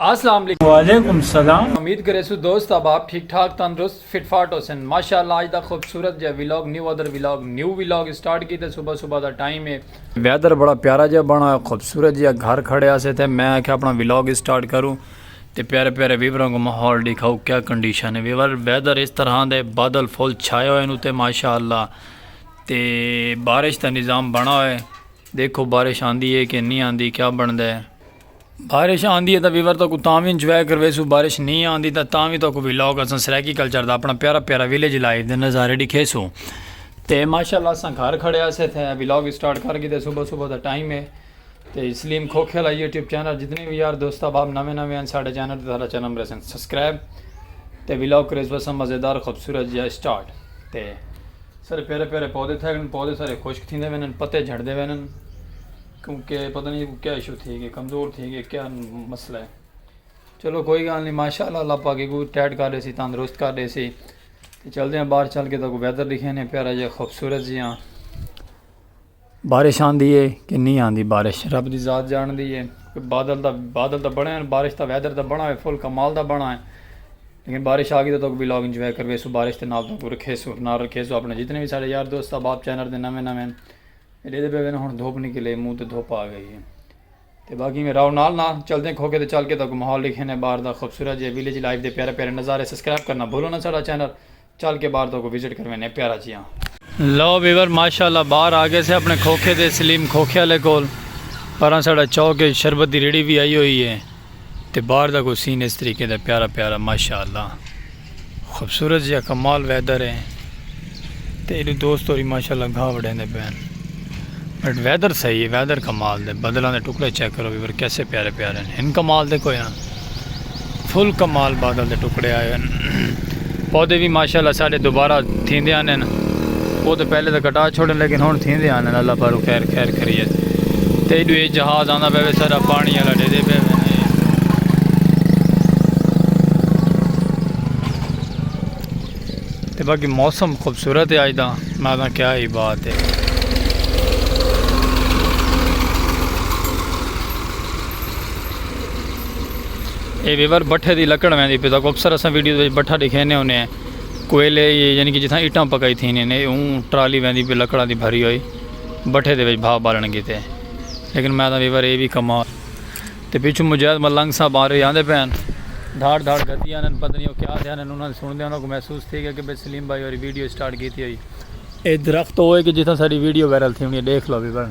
اسلام علیکم وعلیکم السلام امید کریسو دوست احباب ٹھیک ٹھاک تندرست فٹ فاٹ ہوسن ماشاءاللہ اج دا خوبصورت جے vlog new weather vlog new vlog start کیتے صبح صبح دا ٹائم ہے ویدر بڑا پیارا جے بنا ہوا خوبصورت جے گھر کھڑے اسے تھے میں آکھیا اپنا ویلاگ سٹارٹ کروں تے پیارے پیارے ویوراں کو ماحول دکھاؤ کیا کنڈیشن ہے ویور ویدر اس طرح دے بادل فل چھائے ہوئے نو تے ماشاءاللہ تے بارش دا نظام بنا ہوئے دیکھو بارش آندی ہے کہ نہیں آندی کیا بن دے بارش آندی ہے تاں ویور تو کو تاں وی انجوائے کرویسو بارش نہیں آندی تاں تاں وی تو کو ویلاگ اساں سرائیکی کلچر دا اپنا پیارا پیارا ویلیج لائف دے نظارے ڈکھیسو تے ماشاءاللہ اساں گھر کھڑے اسے تھے ویلاگ سٹارٹ کر گیتے صبح صبح دا ٹائم ہے تے سلیم کھوکھے والا یوٹیوب چینل جتنے وی یار دوست احباب نویں نویں ہیں ساڈے چینل تے ساڈا چینل مرے سن سبسکرائب تے ویلاگ کریس وسا مزیدار خوبصورت جیا سٹارٹ تے سارے پیارے پیارے پودے تھے پودے سارے خشک تھیندے وینن پتے جھڑ دے وینن کیوں کہ پتہ نہیں ایکوں کیا ایشو تھی گئے کمزور تھی گئے کیا مسئلہ ہے چلو کوئی گال نہیں ماشاء اللہ اللہ پاک ایکوں ٹائٹ کر دے سی تندرست کر دے سی تو چلتے ہیں باہر چل کے تو ویدر دکھے نے پیارا جہاں خوبصورت جی ہاں بارش آندھی ہے کہ نہیں آندھی بارش رب دی ذات جان دی ہے بادل دا بادل دا بڑا ہے بارش دا ویدر دا بڑا ہے فل کمال دا بڑا ہے لیکن بارش آ گئی تو بھی لوگ انجوائے کروے سو بارش دے نال تو رکھے سو نہ رکھے سو اپنے جتنے بھی سارے یار دوست احباب چینل دے نویں نویں ڈیدے پے وین ہن دھوپ نکلے منہ تے دھوپ آ گئی ہے تے باقی میں راؤ نال نال چلدے کھوکے تے چل کے تاکو ماحول لکھے نے باہر دا خوبصورت جے ویلیج لائف دے پیارے پیارے نظارے سبسکرائب کرنا بھولو نا ساڈا چینل چل کے باہر تاکو وزٹ کرویں نے پیارا جیاں۔ لو ویور ماشاءاللہ باہر آ گئے سے اپنے کھوکھے تے سلیم کھوکھے والے کول پراں ساڈا چوک اچ شربت دی ریڑھی وی آئی ہوئی ہے۔ تے بار دا کوئی سین اس طریقے دا پیارا پیارا ماشاء اللہ خوبصورت جیا کمال ویدر ہے تے ایڈو دوست ہوری ماشاء اللہ گھا وڑے دے پین بٹ ویدر صحیح ہے ویدر کمال دے بدلاں دے ٹکڑے چیک کرو ویور کیسے پیارے پیارے ہیں ہن کمال دے کوئی نہ فل کمال بادل دے ٹکڑے آئے ہیں پودے وی ماشاءاللہ ساڈے دوبارہ تھیندے آنن او تے پہلے تے کٹا چھوڑن لیکن ہن تھیندے آنن اللہ پاروں خیر خیر خریت تے ایڈو اے جہاز آندا پے وے سارا پانی آلا ڈیدے پے وے تے باقی موسم خوبصورت ہے آج دا میں دا کیا ہی بات ہے اے ویور بٹھے دی لکڑ ویندی پی تاکو اکثر اساں ویڈیو وچ بٹھا دکھینے ہونے ہیں کوئلے یعنی کہ جتھاں اٹاں پکائی تھی نے اون ٹرالی ویندی پی لکڑاں دی بھری ہوئی بٹھے دے وچ بھا بالن کیتے لیکن میں دا ویور اے بھی کمال تے پیچھے مجاہد ملنگ صاحب آ رہے آندے پین دھاڑ دھاڑ گدی آنے پتہ نہیں او کیا دھیانے انہاں سن دے انہاں کو محسوس تھی گیا کہ بے سلیم بھائی اور ویڈیو سٹارٹ کیتی ہوئی اے درخت ہوئے کہ جتھاں ساری ویڈیو ویرل تھی ہونی دیکھ لو بھی بن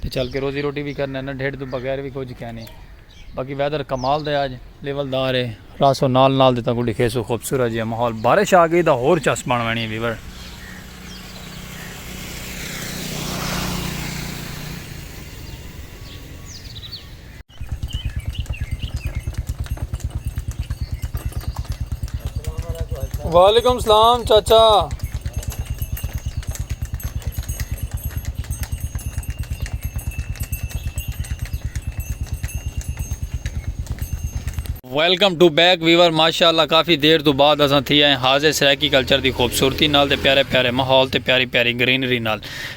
تے چل کے روزی روٹی وی کرنے نہ ڈھڈ توں بغیر وی کچھ کہنی باقی ویدر کمال دے آج لیول دار ہے راسو نال نال دے تاکو ڈکھے سو خوبصورت جی ماحول بارش آ گئی دا ہور چس بن وینی ہے ویور وعلیکم السلام چاچا ویلکم ٹو بیک ویور ماشاء اللہ کافی دیر تو بعد اصل تھی آئے حاضر سرائکی کلچر دی خوبصورتی نال تے پیارے پیارے ماحول تے پیاری پیاری گرینری نال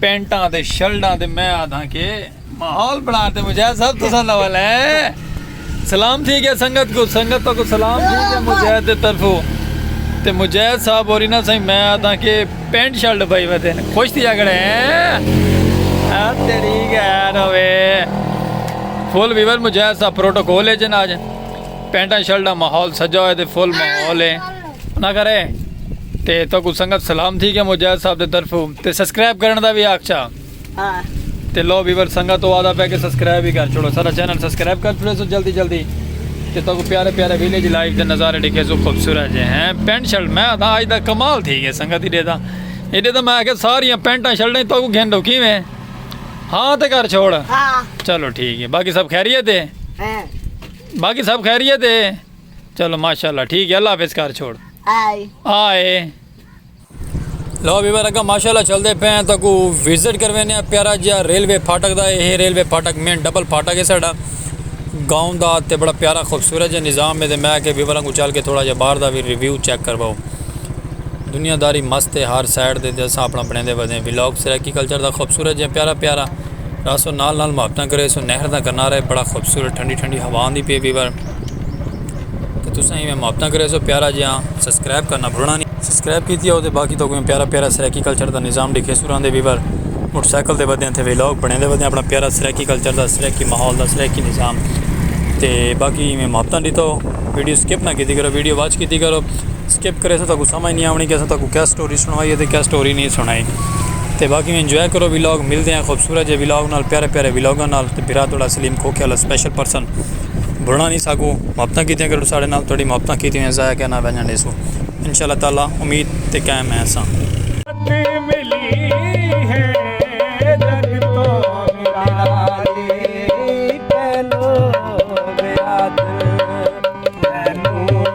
پینٹاں تے شرڈاں تے میں آدھاں کے ماحول بنان تے مجاہد صاحب تساں دا والا ہے سلام تھی گیا سنگت کو سنگت کو سلام تھی گیا مجاہد دے طرفو تے مجاہد صاحب اور انہاں سائیں میں آدھاں کے پینٹ شرڈ بھائی ودے نے خوش تھی اگڑے ہیں تیری گیر ہوئے فل ویور مجاہد صاحب پروٹوکول ہے جن آج پینٹاں شرڈاں ماحول سجا ہوئے تے فل ماحول ہے نہ کرے تے تو کو سنگت سلام تھی کہ مجاہد صاحب دے طرف تے سبسکرائب کرن دا بھی آکھا ہاں۔ تے لو ویور سنگت تو آدھا پہ کہ سبسکرائب ہی کر چھوڑو سارا چینل سبسکرائب کر چھوڑے سو جلدی جلدی تے تو کو پیارے پیارے ویلیج لائف دے نظارے ڈکھے سو خوبصورت جے ہیں پینٹ شرٹ میں آدھا آج دا کمال تھی گئے سنگت ہی دے دا یہ دے دا میں آکھے ساری پینٹاں شرٹیں تو کو گھن ڈوکی میں ہاں تے کر چھوڑ ہاں۔ چلو ٹھیک ہے باقی سب خیریت ہے ہاں۔ باقی سب خیریت ہے چلو ماشاءاللہ ٹھیک ہے اللہ حافظ کر چھوڑ آئے آئے لو بھی بار ماشاءاللہ چل دے پہ ہیں تو کو وزٹ کر وینے پیارا جیا ریلوے پھاٹک دا ہے ریلوے پھاٹک مین ڈبل پھاٹک ہے ساڑا گاؤں دا تے بڑا پیارا خوبصورت جا نظام ہے تے میں کہ بھی بار کو چل کے تھوڑا جا باہر دا بھی ریویو چیک کر باؤ دنیا داری مست ہے ہر سائڈ دے دے سا اپنا بنے دے بدیں ویلوگ سریکی کلچر دا خوبصورت جا پیارا پیارا راسو نال نال محبتاں کرے سو نہر دا کنارے بڑا خوبصورت ٹھنڈی ٹھنڈی ہوان دی پی بھی بار کہ تساں ہی میں محبتاں کرے سو پیارا جیاں سبسکرائب کرنا بھولنا نہیں سبسکرائب کی تھی ہو تو باقی تو کوئی پیارا پیارا سرائیکی کلچر دا نظام دکھے سو رہندے ویور موٹر سائیکل دے ودے ہیں تھے ویلوگ بنے دے ودے ہیں اپنا پیارا سرائیکی کلچر دا سرائیکی ماحول دا سرائیکی نظام تے باقی میں محبتاں دیتا ہو ویڈیو سکپ نہ کی تھی کرو ویڈیو واچ کی تھی کرو سکپ کرے سو تو کوئی سمجھ نہیں آمنی کہ سو تو کوئی کیا سٹوری سنوائی ہے تو کیا سٹوری نہیں سنائی تے باقی میں انجوائے کرو ویلوگ ملتے ہیں خوبصورت جے ویلوگ نال پیارے پیارے ویلوگاں نال تے بھرا توڑا سلیم کھوکھے والا سپیشل پرسن بھلݨا نی ساکوں محبتاں کیتیاں کرو ساڈے نال تہاڈی محبتاں کیتیاں ہوئیاں ضائع کر نہ ونجن ݙیسوں ان شاء اللہ تعالی امید تے قائم ہیں اساں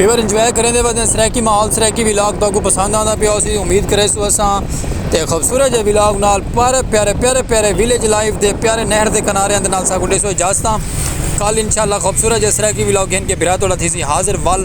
ویور انجوائے کریں دے بعد سرائیکی ماحول سرائیکی ویلاگ تو کو پسند آندا پیا اسی امید کرے سو اساں تے خوبصورت جے ویلاگ نال پیارے پیارے پیارے پیارے ویلیج لائف دے پیارے نہر دے کنارے اندے نال ساکو دے سو اجازتاں کل انشاءاللہ خوبصورت جے سرائیکی ویلاگ گھن کے بھرا توڑا تھی سی حاضر ول